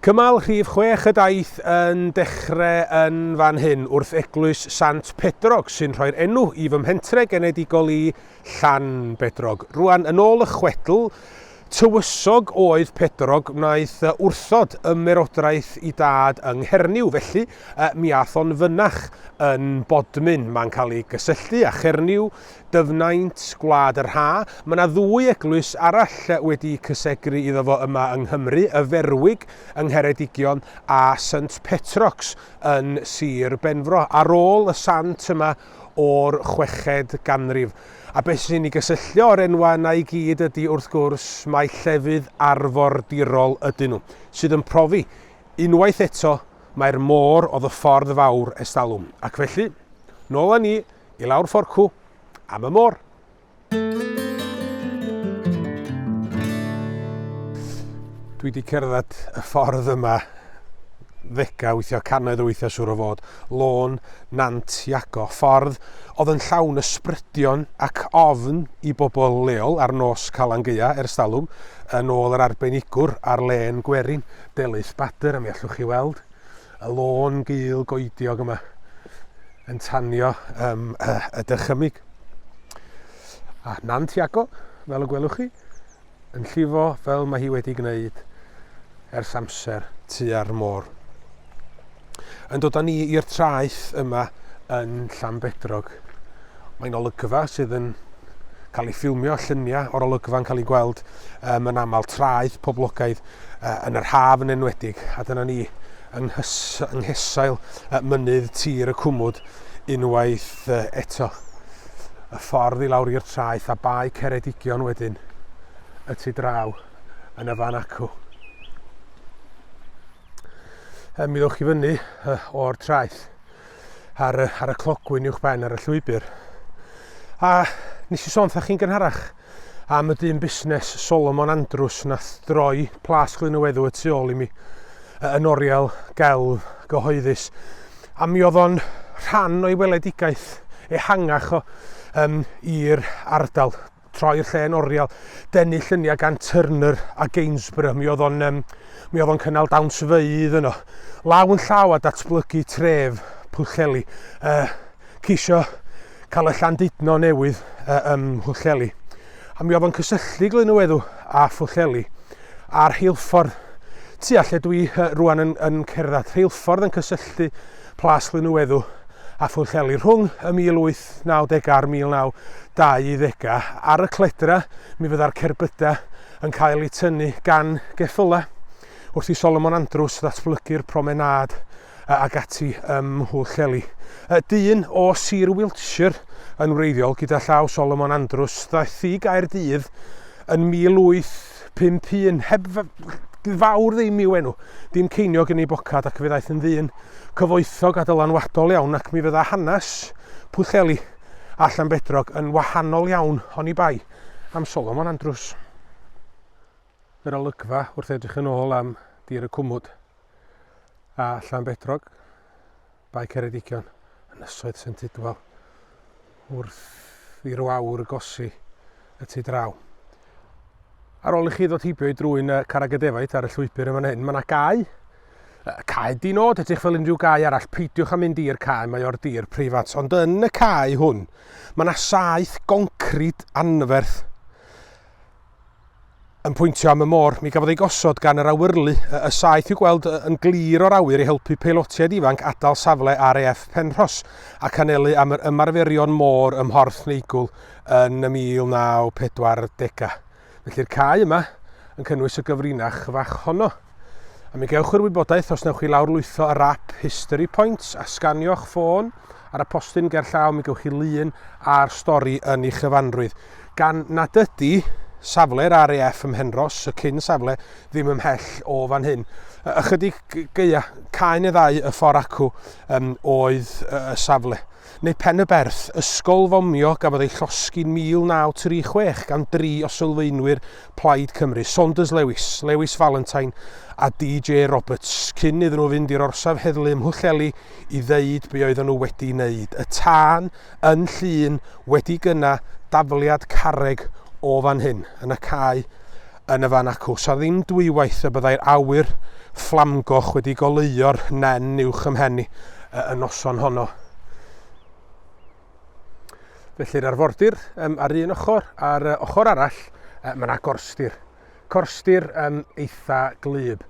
Cymal rhif chwech y daith yn dechrau yn fan hyn, wrth eglwys Sant Pedrog, sy'n rhoi'r enw i fy mhentre genedigol i, Llan Bedrog. Rwan, yn ôl y chwedl, tywysog oedd Pedrog, wnaeth wrthod ymerodraeth i dad yng Nghernyw, felly mi ath o'n fynach yn Bodmin. Mae'n cael ei gysylltu â Chernyw, Dyfnaint, Gwlad yr Ha. Mae yna ddwy eglwys arall wedi cysegru iddo fo yma yng Nghymru, Y Ferwig yng Ngheredigion a Saint Petrox yn Sir Benfro, ar ôl y sant yma o'r chweched ganrif. A beth sy'n ei gysylltio â'r enwau yna i gyd ydy, wrth gwrs, mai llefydd arfordirol ydyn nhw, sydd yn profi, unwaith eto, mai'r môr oedd y ffordd fawr ers talwm. Ac felly, nôl â ni I lawr fforcw am y môr. Dwi wedi cerdded y ffordd yma ddegau, weithiau cannoedd o weithiau siwr o fod. Lôn, nant, iago, ffordd oedd yn llawn ysbrydion ac ofn i bobl leol ar nos Calan Geia ers talwm, yn ôl yr arbenigwr ar len gwerin, Delyth Bader, a mi allwch chi weld. Y lôn gul goediog yma yn tanio um, uh, y dychymyg. A Nan Tiago, fel y gwelwch chi, yn llifo fel mae hi wedi gwneud ers amser tua'r môr. Yn dod â ni i'r traeth yma yn Llanbedrog. Mae'n olygfa sydd yn cael ei ffilmio, lluniau o'r olygfa'n cael ei gweld um, yn aml traeth poblogaidd. yn yr haf yn enwedig, a dyna ni yng nghesail mynydd tir y cwmwd unwaith eto. Y ffordd i lawr i'r traeth a bae Ceredigion wedyn, y tu draw yn y fan acw. Mi ddewch i fyny o'r traeth ar y, ar y clogwyn uwch ben ar y llwybr. A nes i sôn wrthych chi'n gynharach am y dyn busnes Solomon Andrews nath droi plas glyn y weddw y tu ôl i mi yn oriel gelf gyhoeddus. A mi oedd o'n rhan o'i weledigaeth ehangach o um, i'r ardal. troi'r lle yn oriel, denu lluniau gan Turner a Gainsborough. Mi oedd o'n, um, mi oedd o'n cynnal dawns feidd yno. Law yn llaw a datblygu tref Pwllheli. Uh, cisio cael y Llandudno newydd uh, ym Mhwllheli. A mi oedd o'n cysylltu Glynywedw a Phwllheli a'r rheilffordd tua lle dwi uh, rwan yn, yn cerdded. Rheilffordd yn cysylltu Plas Lynweddw a Phwllheli rhwng y 1890au a'r 1920au. Ar y cledra, mi fydda'r cerbydau yn cael eu tynnu gan geffylau wrth i Solomon Andrews ddatblygu'r promenâd ag ati ym Mhwllheli. Dyn o Sir Wiltshire yn wreiddiol gyda llaw Solomon Andrews ddaeth i Gaerdydd yn 1800. Pump un, heb fawr ddim i'w enw. Dim ceiniog yn ei bocad ac fe ddaeth yn ddyn cyfoethog a dylanwadol iawn ac mi fydda hanes Pwllheli a Llanbedrog yn wahanol iawn oni bai am Solomon Andrews. Yr olygfa wrth edrych yn ôl am Dir y Cwmwd a Llanbedrog. Bae Ceredigion, Ynysoedd Sent Tidwal, wrth i'r wawr gosi y tu draw. Ar ôl i chi ddod heibio i drwy'n carreg y defaid ar y llwybr yn fan hyn, mae yna gau. Cae dinod, edrych fel unrhyw gau arall, peidiwch â mynd i'r cae, mae o'r dir preifat. Ond yn y cae hwn, mae yna saeth goncrid anferth. yn pwyntio am y môr, mi gafodd ei gosod gan yr awyrlu y, y saeth i'w gweld yn glir o'r awyr i helpu peilotiaid ifanc adael safle RAF Penrhos ac anelu am yr ymarferion môr ym Mhorth Neigwl yn y 1940au. Felly'r cae yma yn cynnwys y gyfrinach fach honno. A mi gewch yr wybodaeth os newch chi lawrlwytho yr app History Points a sganio'ch ffôn ar y postyn gerllaw, mi gewch chi lun a'r stori yn ei chyfanrwydd. Gan nad ydy safle'r RAF ym Mhenros, y cyn safle, ddim ymhell o fan hyn. Ychydig geia, caen y ddau y ffordd acw um, oedd y safle. neu Pen-y-berth, ysgol fomio gafodd ei llosgi'n 1936 gan dri o sylfaenwyr Plaid Cymru, Saunders Lewis, Lewis Valentine a DJ Roberts, cyn iddyn nhw fynd i'r orsaf heddlu ym Mhwllheli i ddeud be oedden nhw wedi wneud. Y tân yn Llŷn wedi gyna dafliad carreg o fan hyn, yn y cae yn y fan acw. Sa ddim dwywaith y byddai'r awyr fflamgoch wedi goleuo'r nen uwch ym mhen i y noson honno. Felly'r arfordir um, ar un ochr, a'r uh, ochr arall, uh, mae yna gorstir. Corstir um, eitha glyb.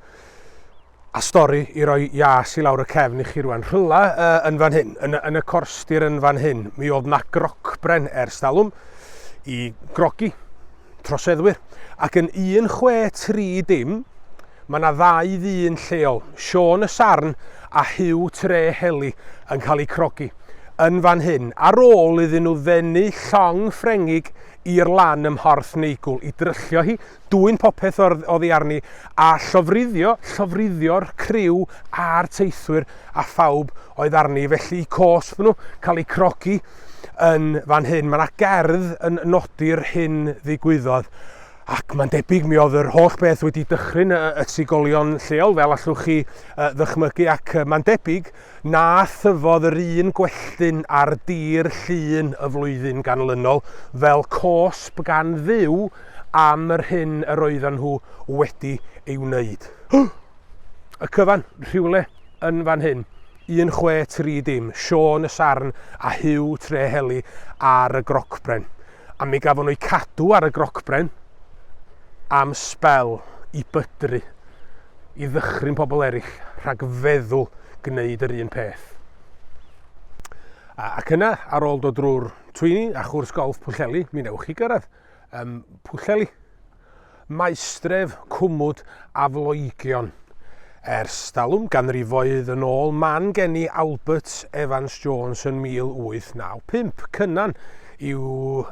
A stori i roi ias i lawr y cefn i chi rwan. Rhywle yn fan hyn, yn, yn y corstir yn fan hyn, mi oedd na grocbren ers talwm i grogi troseddwyr. Ac yn 163 dim, mae na ddau ddyn lleol, Sean y Sarn a Hugh Tre Heli, yn cael eu crogi yn fan hyn, ar ôl iddyn nhw ddenu llong Ffrengig i'r lan ym Mhorth Neigwl i dryllio hi Dwyn popeth oddi arni, a llofruddio, llofruddio'r criw a'r teithwyr a phawb oedd arni, felly y cosb nhw cael eu crogi yn fan hyn. Mae yna gerdd yn nodi'r hyn ddigwyddodd, ac mae'n debyg mi oedd yr holl beth wedi dychryn y trigolion lleol, fel allwch chi ddychmygu, ac mae'n debyg Na thyfodd yr un gwelltyn ar dir Llŷn y flwyddyn ganlynol fel cosb gan Dduw am yr hyn yr oeddan nhw wedi ei wneud. Y cyfan, rhywle yn fan hyn, 1630, Siôn y Sarn a Huw Treheli ar y grocbren. A mi gafon o'u cadw ar y grocbren am sbel i bydru, i ddychryn pobl eraill rhag feddwl gwneud yr un peth. Ac yna, ar ôl dod drwy'r twyni a chwrs golff Pwllheli, mi newch chi gyrraedd um, Pwllheli. Maestref cwmwd aflogion. Ers talwm ganrifoedd yn ôl man geni Albert Evans Jones yn 1895, Cynan i'w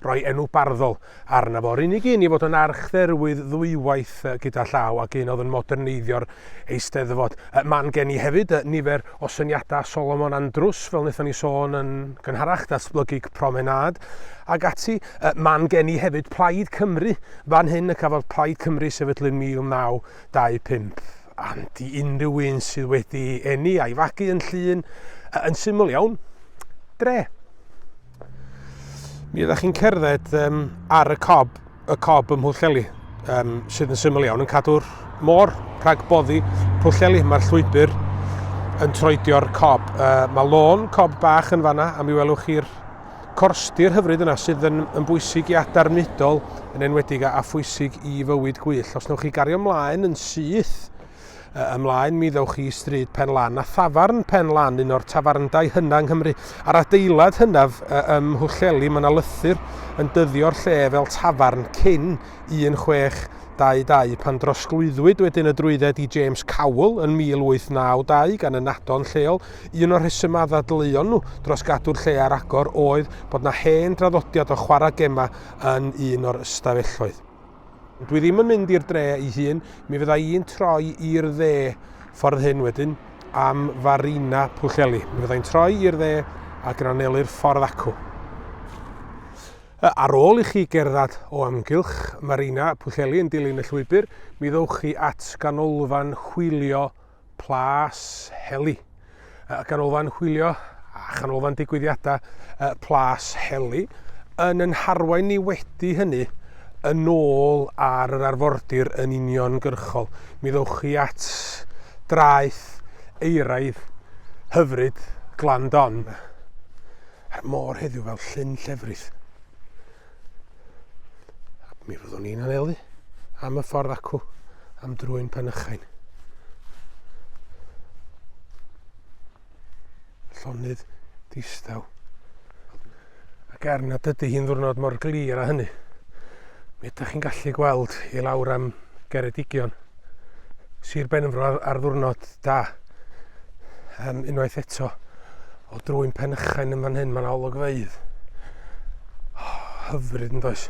roi enw barddol arno fo, yr unig un i fod yn archdderwydd ddwywaith gyda llaw ac un oedd yn moderneiddio'r Eisteddfod. Man geni hefyd nifer o syniadau Solomon Andrews, fel wnaethon ni sôn yn gynharach, datblygu promenâd ac ati. Yy, man gen i hefyd Plaid Cymru, fan hyn y cafodd Plaid Cymru sefydlu yn 1925. And i unrhyw un sydd wedi eni a'i fagu yn Llŷn, yy, yn syml iawn, dre. Mi ydych chi'n cerdded um, ar y cob, y cob ym Mhwllheli, um, sydd yn syml iawn yn cadw'r môr rhag boddi Pwllheli. Mae'r llwybr yn troedio'r cob. Uh, mae lôn cob bach yn fanna, a mi welwch chi'r corstir hyfryd yna sydd yn, yn bwysig i adar mudol yn enwedig a, a phwysig i fywyd gwyll. Os newch chi gario ymlaen yn syth, uh, ymlaen mi ddewch chi i stryd Pen Lan a thafarn Pen Lan, un o'r tafarndai hynna yng Nghymru. A'r adeilad hynaf uh, ym Mhwllheli, mae yna lythyr yn dyddio'r lle fel tafarn cyn 1622 pan drosglwyddwyd wedyn y drwydded i James Cowell yn 1892 gan y nadon lleol Un o'r rhesymau a ddadleuon nhw dros gadw'r lle ar agor oedd bod yna hen draddodiad o chwarae gemau yn un o'r ystafelloedd. Dwi ddim yn mynd i'r dre ei hun, mi fydda i'n troi i'r dde ffordd hyn wedyn am Farina Pwllheli. Mi fydda i'n troi i'r dde ac yn anelu'r ffordd acw. Ar ôl i chi gerdded o amgylch Marina Pwllheli yn dilyn y llwybr, mi ddowch chi at ganolfan hwylio Plas Heli, y Ganolfan Hwylio a Chanolfan Digwyddiadau Plas Heli, yn yn harwain ni wedi hynny yn ôl ar yr arfordir yn uniongyrchol. Mi ddewch chi at draeth eiraidd hyfryd Glan Don. A'r môr heddiw fel llyn llefrith. Mi fyddwn ni'n anelu am y ffordd acw am drwy'n penychain. Llonydd distaw. Ac er nad ydy hi'n ddwrnod mor glir a hynny, mi ydych chi'n gallu gweld i lawr am Geredigion, Sir Benfro ar, ar ddwrnod da. Um, unwaith eto, O drwy'n penychain yn fan hyn, mae'n olygfeidd. Oh, hyfryd yn does.